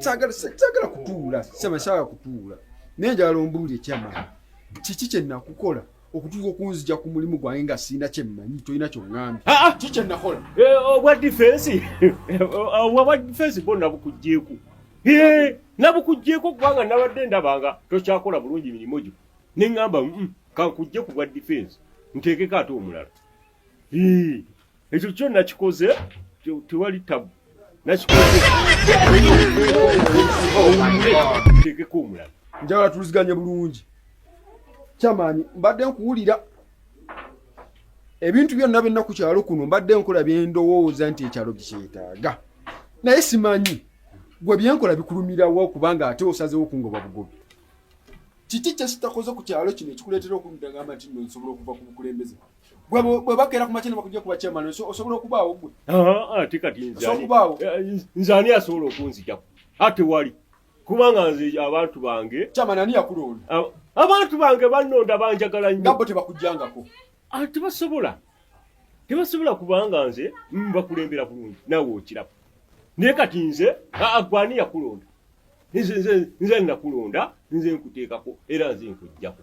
sagala kutuula saba sagala kutuula naye njagala ombuuli ekyama kiki kyenakukola okutuuka okunzija ku mulimu gwange nga sirina kyemmanyi tolina kyoŋŋambye ah, ah! kiki kyenakola eh, obwa difensi obwa difensi bwo nabukugjeku nabukugjeku kubanga nabadde ndabanga tokyakola bulungi mirimu gyo ne ŋŋamba mm, kankujje ku bwa difensi nteekeko ate omulala ekyo kyo nakikoze tewali tabu nakikozekeko omulala njagala tuliziganye bulungi kyamaanyi mbadde nkuwulira ebintu byonna byonna ku kyalo kuno mbadde nkola byendowooza nti ekyalo bikyetaaga naye simanyi gwe byenkola bikulumirawo kubanga ate osazewo kungoba bugobi kiki kyesitakoze ku kyalo kino ekikuleetera okumudagamba nti no nsobola okuva ku bukulembeze bwe bakeera ku makya bakujja kuba chairman osobola okubaawo gwe ate kati nze ani asobola okunzijako ate wali kubanga nze abantu bange chairman ani yakulonda abantu bange bannonda banjagala nnyo nabo tebakujjangako tebasobola tebasobola kubanga nze mbakulembera bulungi nawe okiraba naye kati nze agwe ani yakulonda nze nze nze nakulonda nze nkuteekako era nze nkujjako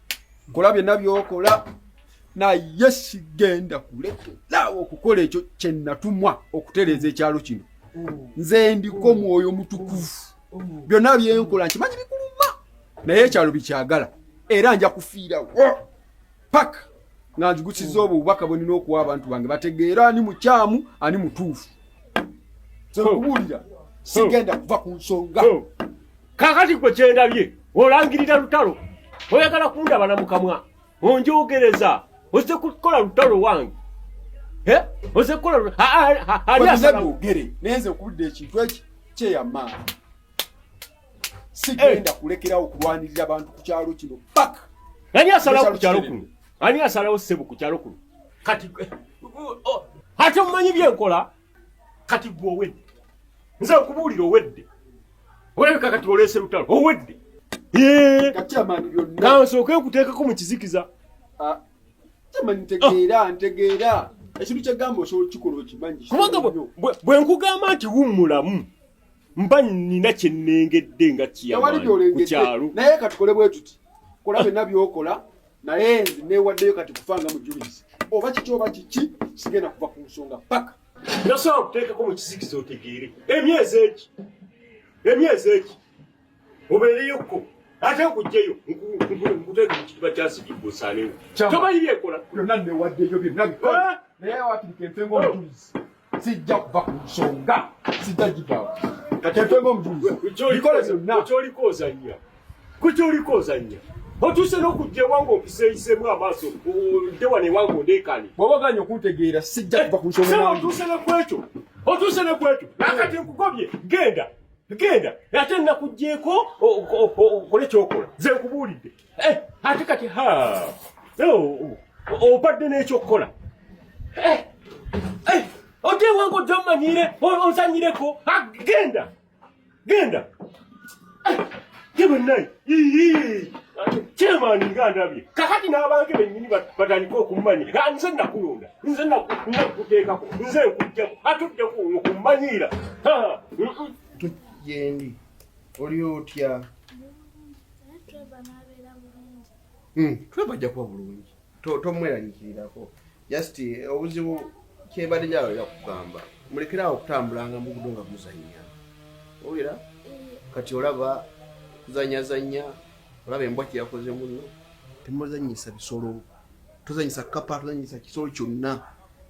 nkola byonna byokola naye sigenda kulekeraawo okukola ekyo kyenatumwa okutereeza ekyalo kino nze ndiko mwoyo mutukuvu byonna byenkola nkimanyi bikuluma naye ekyalo bikyagala era nja kufiirawo paka nga nzigusiza obwo obubaka bwenina okuwa abantu bange bategeera ani mukyamu ani mutuufu nze okubuulira sigenda kuva ku nsonga kakati gwe kyendabye olangirira lutalo oyagala kundaba na mukamwa onjogereza oze kukola lutalo wange oze kukola ogere nenze okudda ekintu eki kyeyamaani sigenda kulekerawo kulwanirira abantu ku kyalo kino paka ani asalawo ku kyalo kuno ani asalawo sebo ku kyalo kuno kati ate omumanyi byenkola kati gwe owedde nze okubuulira owedde olabika kati oleese lutalo owedde nawe nsooke nkuteekako mu kizikiza ah, ntegeera ah. ntegeera ekintu kyegamba osobola okukikola okimanyi kubanga bwe nkugamba nti wummulamu mba nina kyennengedde nga kiyamaani ku kyalo naye katukole bwe tuti kola byonna byokola naye nze newaddeyo kati kufa nga mujulizi oba kiki oba kiki sigenda kuva ku nsonga paka nasobola okuteekako mu kizikiza otegeere emyezi eki emyezi eki obeereyokko ate okujjayo nkuteeka mu kitiba kyasibibwa osaanewo tomanyi byekola byonna newaddeyo byonna naye wakirika enfe ngaomujulizi sijja kuva ku nsonga sijja givaawo kateetwemu omujulizi bikole byonna kyoliko ozannya ku kyoliko ozannya otuuse n'okujja ewange okuseeyisemu amaaso odde wano ewange ondeekane bw'oba oganye okuntegeera sijja kuva ku nsonga eh, otuuse ne kwekyo otuuse ne kwekyo nakati nkugobye genda genda ate nakugjeeko okole kyokola ze nkubuulidde Eh, ate kati ha obadde n'ekyokukola eh, eh, otewange ojja omanyire onsanyireko ah, genda genda gebenaye kyemaani nga ndabye kakati n'abange bennyini batandika okummanya ah, nze nakulonda nze nakuteekako nze nkujjamu atudde ku mmanyiira ah, mm, mm. oli otya hmm, tweba ajja kuba bulungi tomweragikirirako just eh, obuzibu kyebadde nyawo era kugamba mulekerawo okutambulanga mugudo nga muzanya owera eh. kati olaba kuzanyazanya olaba embwa kyeyakoze muno temuzanyisa bisolo tuzanyisa kapa tuzanyisa kisolo kyonna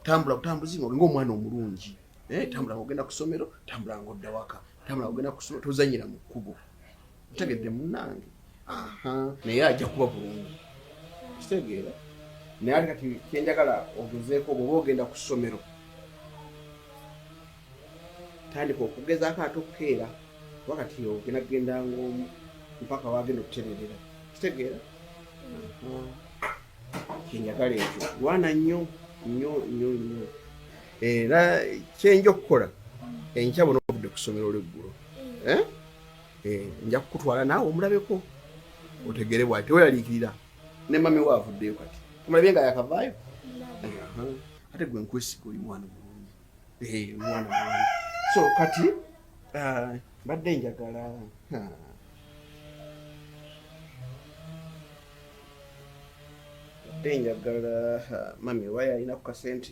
tambula butambuzi nga olinga omwana omulungi eh, tambula nga ogenda ku ssomero tambula nga odda waka tabula ogenda kusoma tozanyira mu kkubo otegedde munange naye ajja kuba bulungi kitegeera naye ate kati kyenjagala ogezeeko bwoba ogenda ku ssomero tandika okugezaako ate okukeera kuba kati ogenda kugenda ngaomu mpaka wagenda okutererera kitegeera kyenjagala ekyo lwana nnyo nnyo nnyo nnyo era kyenja okukola enkya bona obudde ku ssomero olweggulo eh? eh, nja kukutwala naawe omulabeko otegere bwati teweraliikirira ne mami we avuddeyo kati omulabye nga yakavaayo ate gwe nkwesiga oli mwana Eh, so kati ah, mbadde njagala mbadde njagala mami wayo alina ku kasente